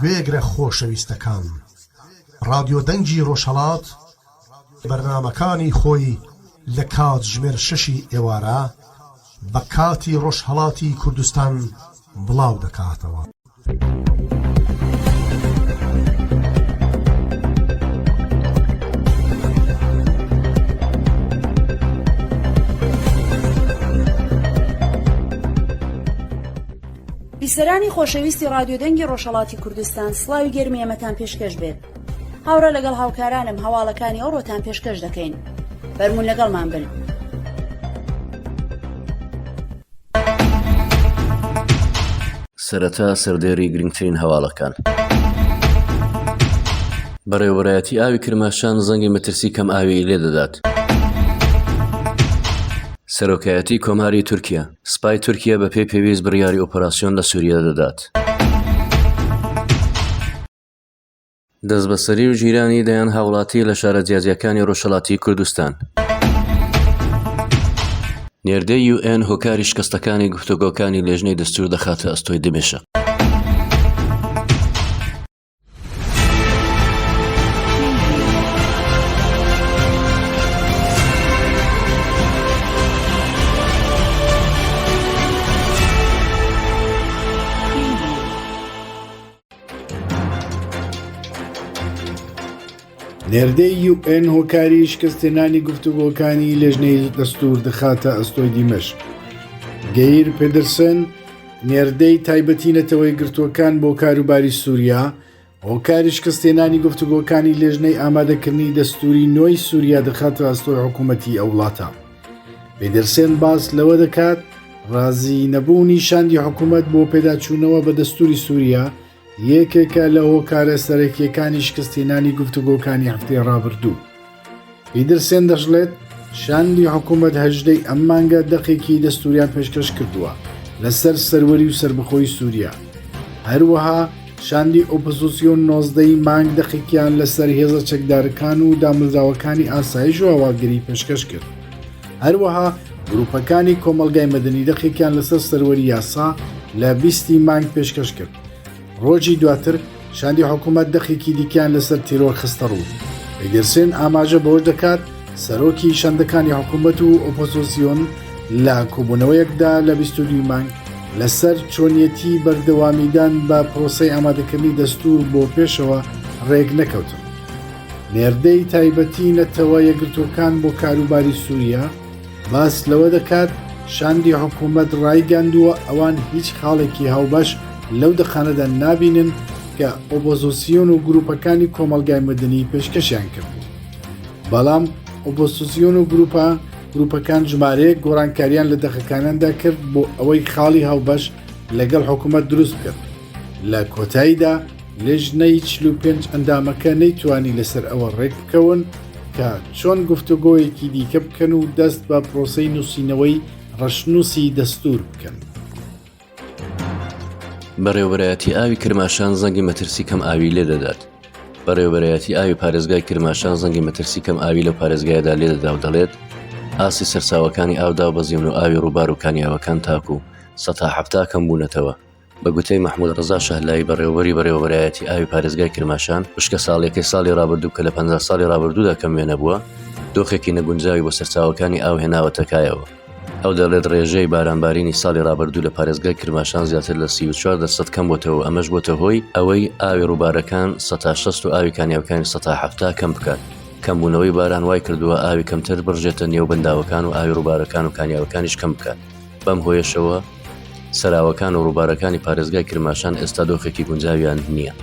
گوێگرە خۆشەویستەکان ڕادیۆ دەنگی ڕۆژهەڵات بەرنمەکانی خۆی لە کاتژمێر شەشی ئێوارە بە کاتی ڕۆژهەڵاتی کوردستان بڵاو دەکاتەوە. بیسەرانی خۆشەویستی رادیو دەنگی ڕۆژهڵاتی کوردستان سلاوی گەرمی ئەمەتان پێشکەش بێت هاورا لەگەڵ هاوکارانم هەواڵەکانی ئەو ڕۆتان پێشکەش دەکەین بەرمون لەگەڵمان بن. سەرەتا سەردێڕی گرنگترین هەواڵەکان. بەڕێوەبەرایەتی ئاوی کرماشان زەنگی مەترسی کەم ئاویی لێدەدات. سەرۆکایەتی کۆماری تورکیا سپای تورکیا بە پێی پێویست بڕیاری ئۆپەراسیۆن لە سووریا دەدات. دەستبەسەری و گیرانی دەیان هاوڵاتی لە شارە جیاجیاکانی ڕۆژهەڵاتی کوردستان. نێردەی یوئێن هۆکاری شکستەکانی گفتوگۆکانی لێژنەی دەستور دەخاتە ئەستۆی دمێشق. نێردەی یو ئێن هۆکاری شکستێنانی گفتوگۆکانی لێژنەی دەستور دەخاتە ئەستۆی دیمەشق گەیر پدرسن نێردەی تایبەتی نەتەوەی گرتووەکان بۆ کاروباری سووریا هۆکاری شکستێنانی گفتوگۆکانی لێژنەی ئامادەکردنی دەستوری نۆی سووریا دەخاتە ئەستۆی حکوومەتتی ئەو وڵاتە پیدرسێن باس لەوە دەکات ڕازی نەبوونی شاندی حکوومەت بۆ پێداچوونەوە بە دەستوری سووریا یەکێکە لە هۆکارە سەرەکیەکانی شکستینانی گفتوگۆکانی هەفتەی ڕابردوو. پیدرسێن دەشڵێت شاندی حکوومەت هەژدەی ئەم مانگە دەقێکی دەستوریان پێشکەش کردووە لەسەر سەروەری و سربخۆی سووریا. هەروەها شاندی ئۆپزسیۆن نۆزدە ی مانگ دەقێکیان لەسەر هێزە چەکدارەکان و دامەزراوەکانی ئاسایش و هەواڵگری پێشکەش کرد هەروەها گروپەکانی کۆمەلگای مەدەنی دەقێکیان لەسەر سەروەری یاسا لە بیستی مانگ پێشکەش کرد ڕۆژی دواتر شاندی حکوومەت دەقێکی دیکەیان لەسەر تیرۆر خستە ڕوو ئەیدرسێن ئاماژە بەوەش دەکات سەرۆکی شەندەکانی حکوومەت و ئۆپۆزۆسیۆن لە کۆبوونەوەیەکدا لە بیستوی مانگ لەسەر چۆنیەتی بەردەوامیدان بە پرۆسی ئامادەکردنی دەستور بۆ پێشەوە ڕێک نەکەوتن. نێردەی تایبەتی نەتەوە یەگرتوەکان بۆ کاروباری سووریا باس لەوە دەکات شاندی حکوومەت ڕایگەاندووە ئەوان هیچ خاڵێکی هاوبەش لەو دەقانەدا نابینن کە ئۆبۆزۆسیۆن و گروپەکانی کۆمەلگای مدنی پێشکەشیان کرد. بەڵام ئۆپۆسسیۆن و گروپە گروپەکان ژمارەیە گۆڕانکاریان لە دەخەکانیاندا کرد بۆ ئەوەی خاڵی هاوبەش لەگەڵ حکوومەت دروست بکرد لە کۆتاییدا لێژنەی 45 ئەندامەکە نەیتوانی لەسەر ئەوە ڕێک بکەون کە چۆن گفتوگۆیەکی دیکە بکەن و دەست بە پرۆسی نووسینەوەی ڕەشنووسی دەستور بکەن. بەڕێوەبەرایەتی ئاوی کرماشان زەنگی مەترسی کەم ئاوی لێ دەدات بەڕێوەبەرایەتی ئاوی پارێزگای کرماشان زەنگی مەترسی کەم ئاوی لە پارێزگایدا لێ دەدا و دەڵێت ئاسی سەرساوەکانی ئاودا و بەزیون و ئاوی ڕووبار و کانیاوەکان تاکو سەتا حفتا کەم بوونەتەوە بە گوتەی مححمود ڕزا شەهلایی بەڕێوەری بەڕێوەبەرایەتی ئاوی پارێزگای کرماشان وشکە ساڵیەکەی ساڵی ڕابردوو کە لە پ ساڵی ڕابردوودا کەم وێنە بووە دۆخێکی نەگونجاوی بۆ سەرچاوەکانی ئاو هێناوەتەکایەوە. ئەو دەڵێت، ڕێژەی بارانبارینی ساڵی ڕابردوو لە پارێزگای کرماشان زیاتر لە سی و چوار دەرسەد کەمبۆتەوە و ئەمەش بۆتە هۆی ئەوەی ئاوی ڕووبارەکان سە تا شەست و ئاوی کانیاوەکانی سە تا حەفتا کەم بکات. کەمبوونەوەی باران وایکردووە ئاوی کەمتر بڕژێتە نێو بەنداوەکان و ئاوی ڕووبارەکان و کانیاوەکانیش کەم بکات، بەم هۆیەشەوە سەراوەکان و ڕووبارەکانی پارێزگای کرماشان ئێستا دۆخێکی گونجاویان نییە.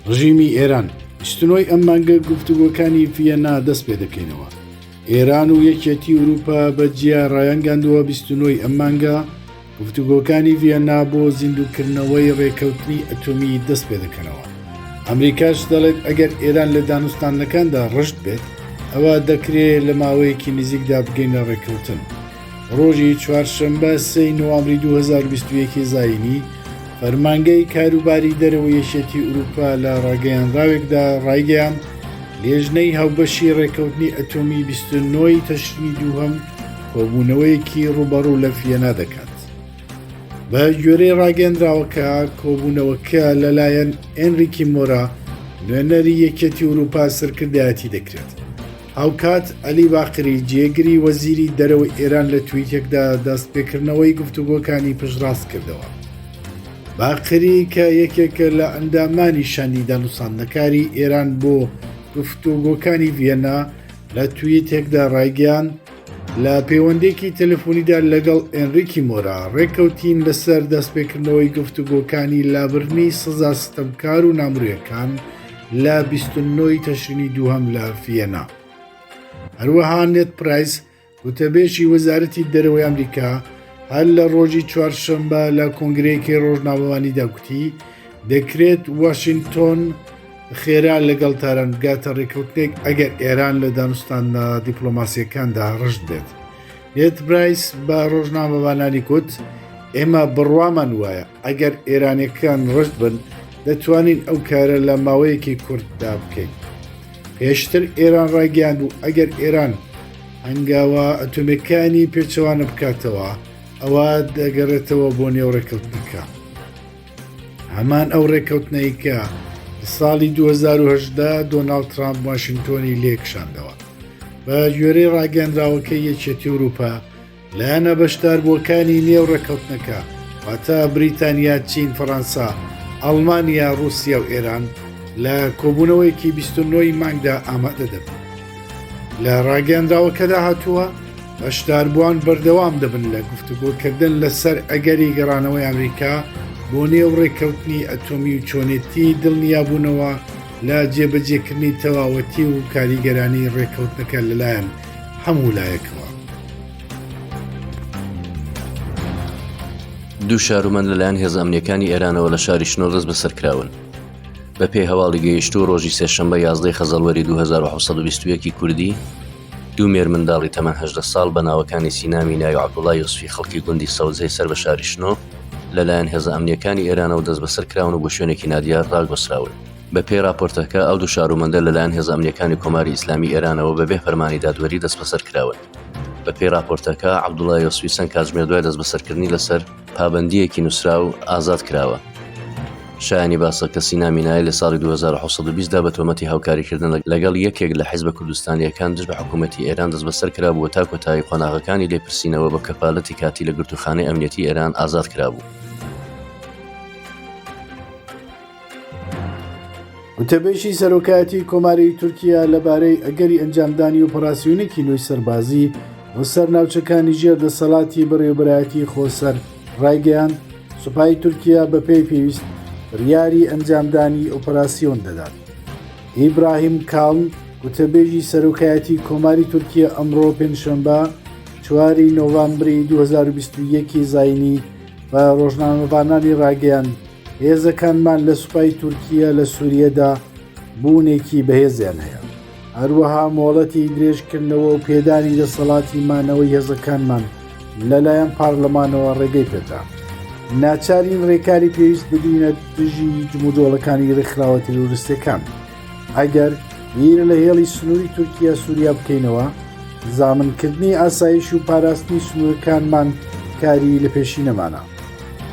ڕژیمی ئێران، ستنۆی ئەم مانگە گفتوگۆکانی ڤیەننا دەست پێ دەکەینەوە. ئێران و یەکێتی ئورووپا بە جیا ڕایانگەاندووە بیست و نۆی ئەم مانگە گفتوگۆکانی ڤیەننا بۆ زیندووکردنەوەی ڕێکەوتنی ئەتۆمی دەست پێ دەکەنەوە. ئەمریکاش دەڵێت ئەگەر ئێران لە دانوستاندنەکاندا ڕژد بێت، ئەوا دەکرێ لە ماوەیەکی نزیکدا بگەینە ڕێککەوتن. ڕۆژی چوارشەممە سێی نوامری 2021 زینی فەرمانگەی کاروباری دەرەوە یەشێتی ئوروپا لە ڕاگەیانراوێکدا ڕایگەیان لێژنەی هاوبەشی ڕێکەوتنی ئەتۆمی 29ی تەشنی دووهەم کۆبوونەوەیەکی ڕوبەڕوو لە فیەنا دەکات بە گوێرەی ڕاگەندراوەکە کۆبوونەوەکە لەلایەن ئەنریکی مۆرا نوێنەری یەکێتی ئوروپا سەرکردایەتی دەکرێت هاوکات عەلی باقری جێگری وەزیری دەرەوەی ئێران لە تویتێکدا دەست پێکردنەوەی گفتوگۆکانی پشتڕاست کردەوە. باقری کە یەکێکە لە ئەندامانی شاندی دانوساندنەکاری ئێران بۆ گفتوگۆکانی ڤێنا لە تویتێکدا ڕایگەیان لە پەیوەندێکی تەلفۆنیدا لەگەڵ ئەنریکی مۆرا ڕێککەوتین لەسەر دەستپێکردنەوەی گفتوگۆکانی لابردنی سزا ستەمکار و نامرێکان لە بیست و نۆ ی تەشرینی دووهەم لە فیەنا. هەروەها نێت پرایس وتەبێژی وەزارەتی دەرەوەی ئەمریکا هەر لە ڕۆژی چوارشەممە لە کۆنگرەیەکی ڕۆژناوەوانیدا کوتی دەکرێت واشنگتۆن خێرا لەگەڵ تاران بگاتە ڕێککەوتنێک ئەگەر ئێران لە دانوستانە دیپلۆماسیەکاندا ڕژد بێت نێت برایس بە ڕۆژنامەوانانی کوت ئێمە بڕوامان وایە ئەگەر ئێرانیەکان ڕشت بن دەتوانین ئەو کارە لە ماوەیەکی کورددا بکەین پێشتر ئێران ڕایگەیان بوو ئەگەر ئێران هەنگاوە ئەتۆمەکانی پێچەوانە بکاتەوە ئەوە دەگەڕێتەوە بۆ نێو ڕێککەوتنەکە هەمان ئەو ڕێککەوتنەیکە ساڵی 2010 دۆناالد ترامپ واشنگتۆنی لێکشاندەوە بە گوێرەی ڕاگەنراوەکە یەکێتی وروپا لایەنە بەشداربووەکانی نێو ڕێککەوتنەکە واتە بریتانیا چین فەڕەنسا ئەڵمانیا رووسیا و ئێران لە کۆبوونەوەیەکی 29 مانگدا ئامادە دەبن لە ڕاگەندراوەکەدا هاتووە بەشداربووان بەردەوام دەبن لە گفتوگۆکردن لەسەر ئەگەری گەڕانەوەی ئەمریکا بۆ نێو ڕێککەوتنی ئەتۆمی و چۆنێتی دڵنیابوونەوە لە جێبەجێکردنی تەواوەتی و کاریگەرانی ڕێککەوتنەکە لەلایەن هەموو لایەکەوە. دوو شارومەند لەلایەن هێزە ئەمنیەکانی ئێرانەوە لە شاری شنۆ دەست بەسەرکراون بە پێی هەواڵی گەیشتوو ڕۆژی سێشەمبە یازدەی خەزەڵوەری 2021 کوردی دوو مێر منداڵی تەمەهدە ساڵ بە ناوەکانی سینامی ناوی عبدوڵای یوسفی خەڵکی گوندی سەوزەی سەر بە شاری شنۆ لەلایەن هێزە ئەمنیەکانی ئێرانەوە دەست بەسەر کراون و بۆ شوێنێکی نادیار ڕاگۆسراون بە پێی راپۆرتەکە، ئەو دوو شارومەندە لە لایەن هێزە ئەمنییەکانی کۆماری ئیسلامیی ئێرانەوە بە بێ فەرمانی دادوەری دەستبەسەر کراون. بە پێی راپۆرتەکە، عەبدوڵا یۆسفی چەند کاتژمێر دوای دەستبەسەرکردنی لە سەر پابەندییەکی نووسراو ئازاد کراوە. شایانی باسە کە سینا مینای لە ساڵی دوو هەزار و حەوت سەد و بیست دا بە تۆمەتی هاوکاریکردن لەگەڵ یەکێک لە حیزبە کوردستانییەکان دژ بە حکوومەتی ئێران دەستبەسەر کرابوو و تا کۆتایی قۆناغەکانی لێپرسینەوە بە کەفالەتی کاتی لە گرتووخانەی ئەمنییەتی ئێران ئازاد کرابوو. وتەبێژی سەرۆکایەتی کۆماری تورکیا لەبارەی ئەگەری ئەنجامدانی ئۆپەراسسیونێکی نوێی سەربازی بۆ سەر ناوچەکانی ژێر دەسەڵاتی بەڕێوبەرایەتی خۆسەر ڕایگەیان سوپای تورکیا بە پێی پێویست بڕیاری ئەنجامدانی ئۆپەراسسیۆن دەدات ئیبراهیم کاڵم وتەبێژی سەرۆکایەتی کۆماری تورکیا ئەمڕۆ پێنجشەمبە چواری نۆڤامبری 2021 زینی بە ڕۆژنامەڤانانی ڕاگەیان هێزەکانمان لە سوپای تورکیا لە سووریەدا بوونێکی بەهێزیان هەیە هەروەها مۆڵەتی درێژکردنەوە و پێدانی دەسەڵاتی مانەوەی هێزەکانمان لەلایەن پارلەمانەوە ڕێگەی پێدا ناچارین ڕێکاری پێویست بدینە دژی جموجۆڵەکانی ڕێکخراوە تیرۆریستەکان. ئەگەر بیر لە هێڵی سنووری تورکیا سووریا بکەینەوە زامنکردنی ئاسایش و پاراستنی سنوورەکانمان کاری لە پێشی نەمانە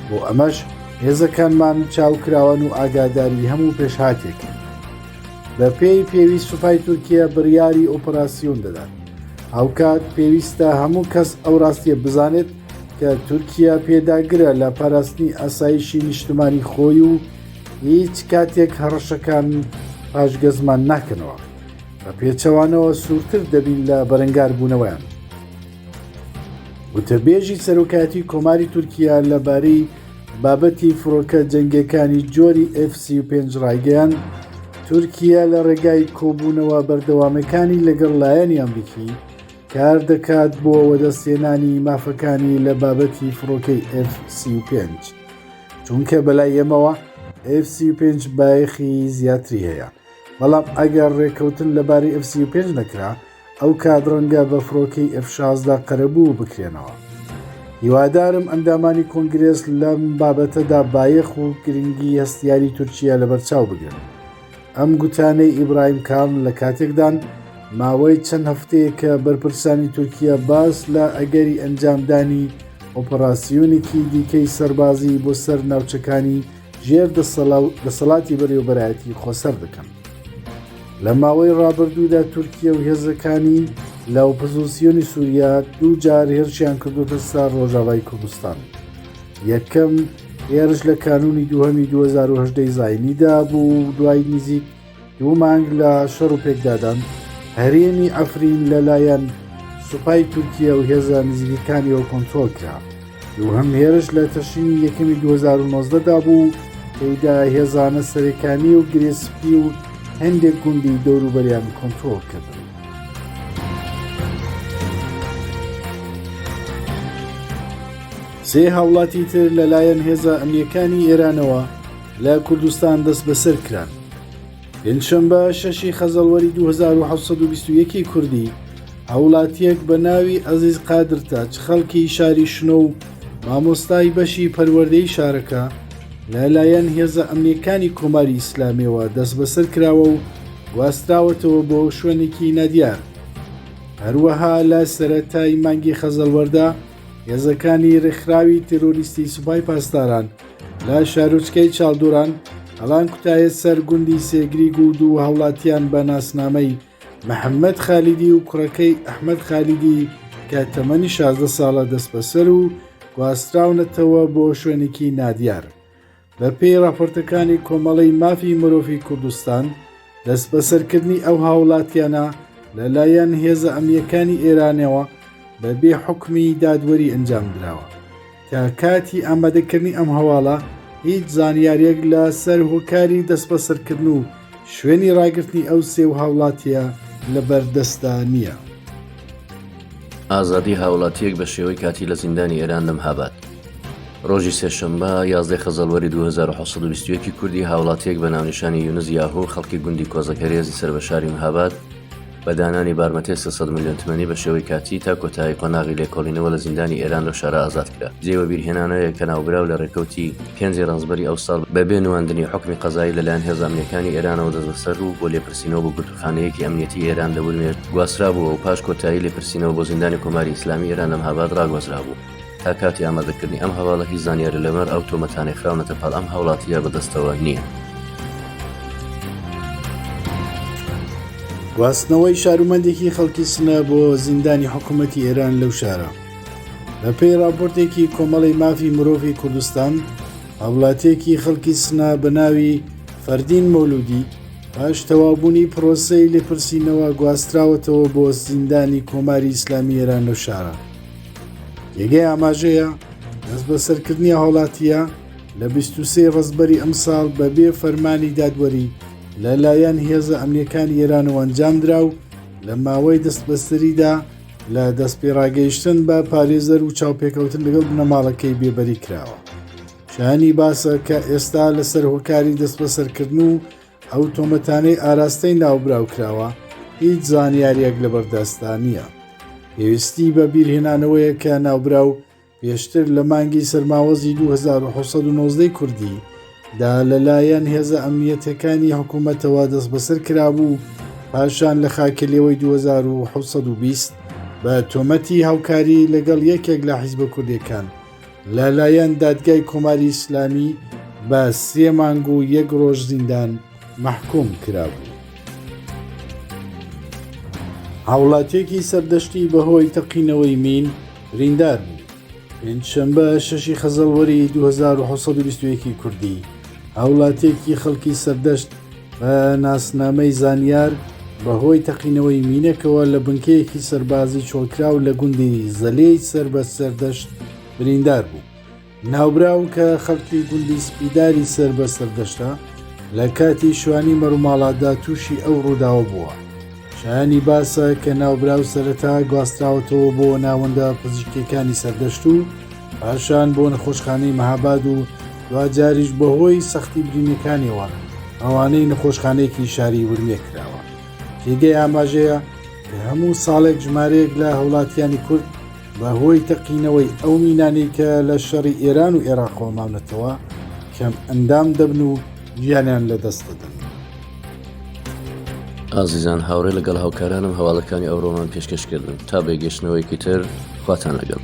بۆ ئەمەش هێزەکانمان چاوکراوان و ئاگاداری هەموو پێشهاتێک بە پێی پێویست سوپای تورکیا بڕیاری ئۆپەراسیۆن دەدات هاوکات پێویستە هەموو کەس ئەو ڕاستیە بزانێت کە تورکیا پێداگرە لە پاراستنی ئاسایشی نیشتمانی خۆی و هیچ کاتێک هەڕەشەکان پاشگەزمان ناکەنەوە بە پێچەوانەوە سوورتر دەبین لە بەرەنگار بوونەوەیان وتەبێژی سەرۆکاتی کۆماری تورکیا لەبارەی بابەتی فڕۆکە جەنگەکانی جۆری F35 ڕایگەیان تورکیا لە ڕێگای کۆبوونەوە بەردەوامەکانی لەگەڵ لایەنی ئەمریکی کار دەکات بۆ وەدەستێنانی مافەکانی لە بابەتی فڕۆکەی F35. چونکە بەلای ئێمەوە F35 بایەخی زیاتری هەیە بەڵام ئەگەر ڕێککەوتن لەبارەی F35 نەکرا ئەو کات ڕەنگە بە فڕۆکەی F16 قەرەبوو بکرێنەوە هیوادارم ئەندامانی کۆنگرێس لەم بابەتەدا بایەخ و گرنگی هەستیاری تورکیا لەبەرچاو بگرن ئەم گوتانەی ئیبراهیم کاڵ لە کاتێکدان ماوەی چەند هەفتەیە کە بەرپرسانی تورکیا باس لە ئەگەری ئەنجامدانی ئۆپەراسیۆنێکی دیکەی سەربازی بۆ سەر ناوچەکانی ژێر دەسەڵاتی بەرێوبەرایەتی خۆسەر دەکەن لە ماوەی ڕابردوودا تورکیا و هێزەکانی لە ئۆپزسیۆنی سووریا دوو جار هێرشیان کردوتە سەر ڕۆژاوای کوردستان یەکەم لە هێرش لە کانونی دووهەمی 2010 ی زاینیدا بوو و دوای نزیک دوو مانگ لە شەڕ و پێکدادان هەرێمی عەفرین لەلایەن سوپای تورکیا و هێزە نزیکەکانیەوە کۆنتترۆل کرا دووهەم هێرش لە تەشینی یەکەمی 2009دا بوو تێدا هێزانە سەرەکانی و گرێسپی و هەندێک گوندی دەوروبەریان کۆنتترۆل کرد سێ هاوڵاتی تر لەلایەن هێزە ئەمنیەکانی ئێرانەوە لە کوردستان دەست بەسەر کران پێنجشەمبە شەشی خەزەڵوەری 1920 کوردی هاوڵاتیەک بە ناوی ئەزیز قادرتە چ خەڵکی شاری شنۆ و مامۆستای بەشی پەروەردەی شارەکە لەلایەن هێزە ئەمنیەکانی کۆماری ئیسلامیەوە دەست بەسەر کراوە و گواستراوەتەوە بۆ شوێنێکی نادیار هەروەها لە سەرەتای مانگی خەزەڵوەردا هێزەکانی ڕێکخراوی تیرۆریستی سوپای پاسداران لە شارۆچکەی چاڵدوران هەڵان کوتایە سەر گوندی سێگریگ و دوو هاوڵاتیان بە ناسنامەی محەممەد خالیدی و کوڕەکەی ئەحمد خالیدی کە تەمەنی 16 ساڵە دەست بەسەر و گواستراونەتەوە بۆ شوێنێکی نادیار بەپێی ڕاپۆرتەکانی کۆمەڵەی مافی مرۆڤی کوردستان، دەستبەسەرکردنی ئەو هاوڵاتیانە لەلایەن هێزە ئەمنیەکانی ئێرانەوە بە بێ حکومی دادوەری ئەنجام دراوە. تا کاتی ئامادەکردنی ئەم هەواڵە هیچ زانیاریەک لە سەر هۆکاری دەستبەسەرکردن و شوێنی ڕاگرتنی ئەو سێ و هاوڵاتیە لە بەردەستدا نییە. ئازادی هاوڵاتیەک بە شێوەی کاتی لە زیندانی ئێران لەم هابات. ڕۆژی سێشەممە یازدە خەزەڵوەری 2021 کوردی هاوڵاتیەک بە ناونیشانی یونز یاهۆ خەڵکی گوندی کۆزەکەرێزی سەر بە شاری مهاباد بە دانانی بارمتەی سێ سەد ملیۆن تمەنی بە شێوەی کاتی تا کۆتایی قۆناغی لێکۆڵینەوە لە زیندانی ئێران لەو شارە ئازاد کرا. جێی وەبیرهێنانەیە کە ناوبراو لە رێکەوتی پێنج ی رەنجبەری ئەو ساڵ بە بێ نواندنی حوکمی قەزایی لە لایەن هێزە ئەمنییەکانی ئێرانەوە دەستبەسەر و بۆ لێپرسینەوە بۆ گرتووخانەیەکی ئەمنییەتیی ئێران لە ورمێ گواسترابوو و پاش کۆتایی لێپرسینەوە بۆ زیندانی کۆماری ئیسلامیی ئێران لە مهاباد راگوازرابوو. تا کاتی ئامادەکردنی ئەم هەواڵە هی زانیارە لەمەر ئەو تۆمەتانەی خراونەتە پاڵ ئەم هاوڵاتیە بەدەستەوە نییە. گواستنەوەی شارومەندێکی خەڵکی سنە بۆ زیندانی حکوومەتتی ئێران لەو شارە بەپێی راپۆرتێکی کۆمەڵی مافی مرۆڤی کوردستان هاوڵاتێکی خەڵکی سنە بە ناوی فەردین مۆلودی پاش تەوابوونی پرۆسەی لێپرسینەوە گواستراوەتەوە بۆ زیندانی کۆماری ئیسلامی ئێران لەو شارە یگەی ئاماژەیە دەست بەسەرکردنی هاوڵاتیە لە 23 ڕزبەری ئەمساڵ بەبێ فەرمانی دادوەری لەلایەن هێزە ئەمنیەکان ئێرانەوە ئەنجامدرا و لە ماوەی دەستبەستریدا لە دەست پێڕاگەیشتن بە پارێزەر و چاوپێکەوتن لەگەڵ بنەماڵەکەی بێبەری کراوە شانی باسە کە ئێستا لەسەر هۆکاری دەست بەسەرکردن و ئەو تۆمەتانەی ئاراستەی ناوبراو کراوە هیچ زانیاریەک لەبەردەستدا نییە پێویستی بە بیرهێنانەوەیە کە ناوبراو پێشتر لە مانگی سەرماوەزی 1990 کوردی دا لەلایەن هێزە ئەمنیەتەکانی حکوومەتەوە دەست بەسەر کرابوو پاشان لە خاکەلەوەی 2020 بە تۆمەتی هاوکاری لەگەڵ یەکێک لە حیزبە کوردەکان لەلایەن دادگای کۆماری ئیسلامی بە سێ مانگ و یەک ڕۆژ زیندان مەحکوم کرابوو. هاوڵاتیەکی سەردەشتی بەهۆی تەقینەوەی مین ریندار بوو پێنجشەمبە شەشی خەزەڵوەری 2021 کوردی هاوڵاتیەکی خەڵکی سەردەشت بە ناسنامەی زانیار بەهۆی تەقینەوەی مینەکەوە لە بنکەیەکی سەربازی چۆڵکراو لە گوندی زەلێی سەر بە سەردەشت بریندار بوو ناوبراو کە خەڵکی گوندی سپیداری سەر بە سەردەشتە لە کاتی شوانی مەروماڵاتدا تووشی ئەو ڕووداوە بووە شایانی باسە کە ناوبراو سەرەتا گواستراوەتەوە بۆ ناوەندە پزیشکەکانی سەردەشت و پاشان بۆ نەخۆشخانەی مەهاباد و دواجاریش بەهۆی سەختی برینەکانیەوە ئەوانەی نەخۆشخانەیەکی شاری ورمێ کراوە تێگەی ئاماژەیە کە هەموو ساڵێک ژمارەیەک لە هەوڵاتیانی کورد بەهۆی تەقینەوەی ئەو مینانی کە لە شەڕی ئێران و ئێراقۆماونەتەوە کەم ئەندام دەبن و گیانیان لەدەست دەدەن. ئازیزان هاوڕێ لەگەڵ هاوکارانم هەواڵەکانی ئەوڕۆمان پێشکەش کردن تا بێگەشتنەوەیکی تر خواتان لەگەڵ.